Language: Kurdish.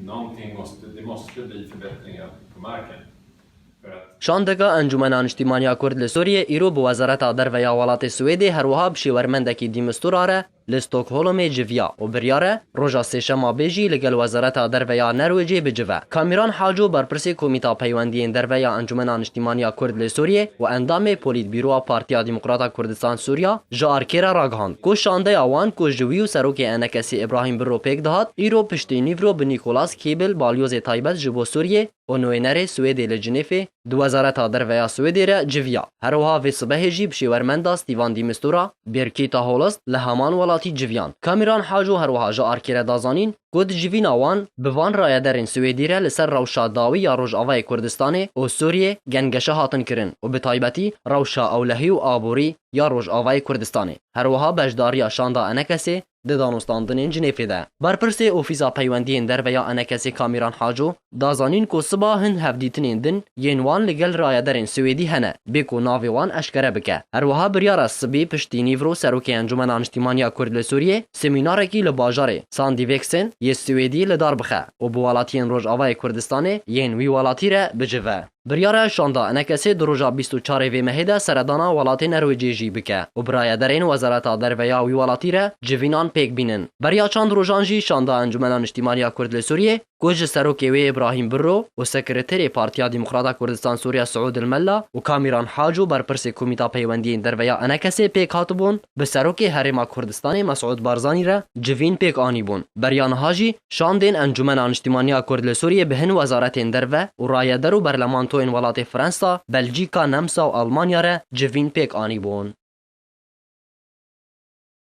Nanking måste, det måste bli förbättringar på marken för att. Şandeka Encûmena Niştîmaniya Kurd li Sûriyê îro bi Wezareta Derve ya welatê Swêdê her wiha bi şêwermendekî dîmistura re li Stokholmê civiya û biryar e roja Sêşema bê jî ligel Wezareta Derve ya Nerwêcê bicive. Kamîran Haco berpirsê Komîta Peywendiyên Derve ya Encûmena Niştîmaniya Kurd lê Sûriyê û endamê Polîtbîroa Partiya Demokrata Kurdistan-Sûriya, Ji arkê re ragihand ku şandeya wan ku ji wî û Serokê Enekesî Îbrahîm Birro pêk dihat, îro piştî nîv re bi Nîkolas Kîbil, balyozê taybet ji bo Sûriyê û nûênerê Swêdê li Cinêfê, di Wezareta Derve ya Swêdê re civiya. Herwiha vê sibehê jî bi şêwermenda Stîvan Dî Mistura, Birkîta Holst, li heman welatî civiyan. Kamîran Haco herwiha ji arkê re da zanîn, ku di civîna wan bi van rayederên Swêdî re li ser rewşa dawî ya Rojavayê Kurdistanê û Sûriyê gengeşe hatin kirin û bi taybetî rewşa ewlehî û aborî ya Rojavayê Kurdistanê her wiha beşdariya şanda Enekesê di danûstandinên Cinêfê de. Berpirsê Ofîsa Peywendiyên Derve ya Enekesê Kamîran Haco Da zanîn ku siba hin hevdîtinên din yên wan li gel rayedarên Swêdî hene bê ku navê wan eşkere bike. Her wiha biryara sibê piştî nîvro Serokê Encûmena Niştîman ya Kurd li Sûriyê semînarekî li bajarê Sandîveksen yê Swêdî li dar bixe û bi welatiyên Rojavayê Kurdistanê yên wî welatî re bicive. Biryara şanda enekesê di roja bîst û çar ê vê mehê de seredana welatê Nerwêcê jî bike û bi rayedarên Wezareta Derve ya wî welatî re civînan pêk bînin. Beriya çand rojan jî şanda Encûmena Niştîman ya Kurd li Sûriyê ku ji serokê wê Îbrahîm Birro û Sekreterê Partiya Demokrata Kurdistan Sûriya Siûd El Mella û Kamîran Hac û berpirsê Komîta Peywendiyên Derve ya Enekesê pêk hatibûn, bi serokê Herêma Kurdistanê Mesûd Barzanî re civîn pêk anîbûn. Beriya niha jî şandên Encûmena Niştîmaniya Kurd li Sûriyê bi hin wezaretên derve û rayeder û berlemantoyên welatê Fransa, Belcîka, Nemsa û Elmanya re civîn pêk anîbûn.